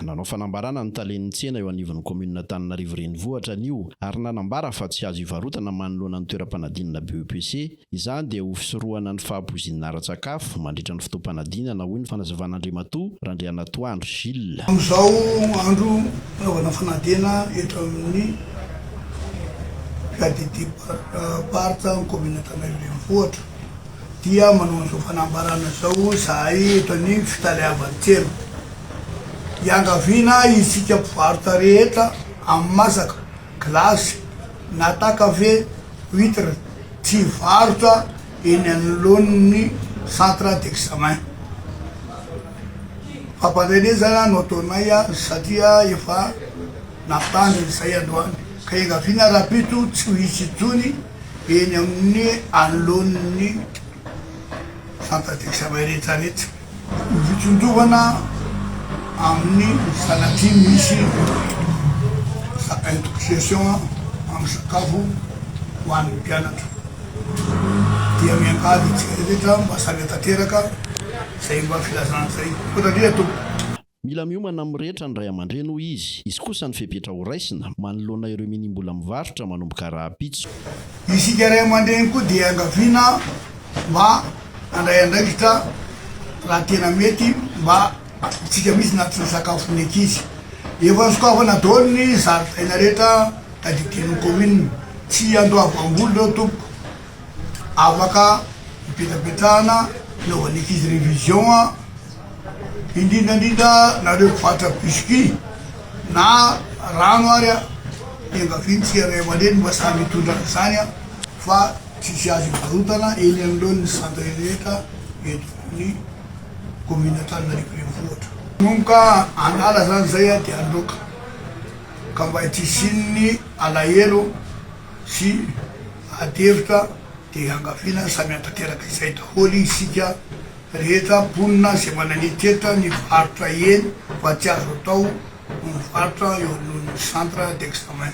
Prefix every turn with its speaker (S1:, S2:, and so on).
S1: Nanao fanambarana ny talen'ny tsena eo anivon'ny kaominin'Antananarivo Renivohitra anio ary nanambara fa tsy azo ivarotana manoloana ny toeram-panadinana BEPC izany dia ho fisorohana ny fahapoizinana ara-tsakafo mandritra ny fotoam-panadinana, hoy ny fanazavan'Andriamatoa Randrianatoandro Gilles. Amin'izao
S2: andro fanaovana fanadinana eto amin'ny PADD Parc Barth amin'ny kaominin'Antananarivo Renivohitra dia manao an'izao fanambarana izao izahay eto anivon'ny fitaleavan-tsena, Iangaviana isika mpivarotra rehetra amin'ny masaka, gilasy na takave, huitre, tsy hivarotra eny anoloan'ny centre d'examen. Fampanenezana no ataonay satria efa nampitandrina izay androany ka iangaviana rahampitso tsy ho hisy intsony. Eny amin'ny anoloan'ny fanta-diksamerintany etsy. Ny fitsonjovana amin'ny sanatria misy intoxiation amin'ny sakafo ho an'ny mpianatra dia miangavy antsika rehetra mba sahy mihatanteraka izay mba filazana izay. Misaotra indrindra Tompo. Mila miomana
S1: amin'ny rehetra ny ray aman-dreny, hoy izy. Izy kosa ny fepetra horaisina, manoloana ireo minim-bola mivarotra manomboka rahampitso. Isika ray
S2: aman-dreny koa dia iangaviana mba handray andraikitra raha tena mety mba antsika mihitsy na tsy ny sakafo ny ankizy. Efa nosokafana daholo ny zaridaina rehetra tadidian'ny kaominina. Tsy hiandoavam-bola ireo tompoko. Afaka hipetrapetrahana hanaovan'ny ankizy révision. indrindra indrindra nareo mpivarotra biscuit na rano ary a, iangaviantsika ray aman-dreny mba samy hitondra an'izany a, fa tsy hisy azo hivarotana eny anoloan'ny centre rehetra eto amin'ny commune Antananarivo Renivohitra. Manomboka an'ala zany zay a dia loaka ka mba tsy hisian'ny alahelo sy ady hevitra dia iangaviana samy hantateraka izay daholo isika. Rehetra mponina izay manan'iteta ny varotra eny fa tsy azo atao ny mivarotra eo anoloan'ny centre d'examen.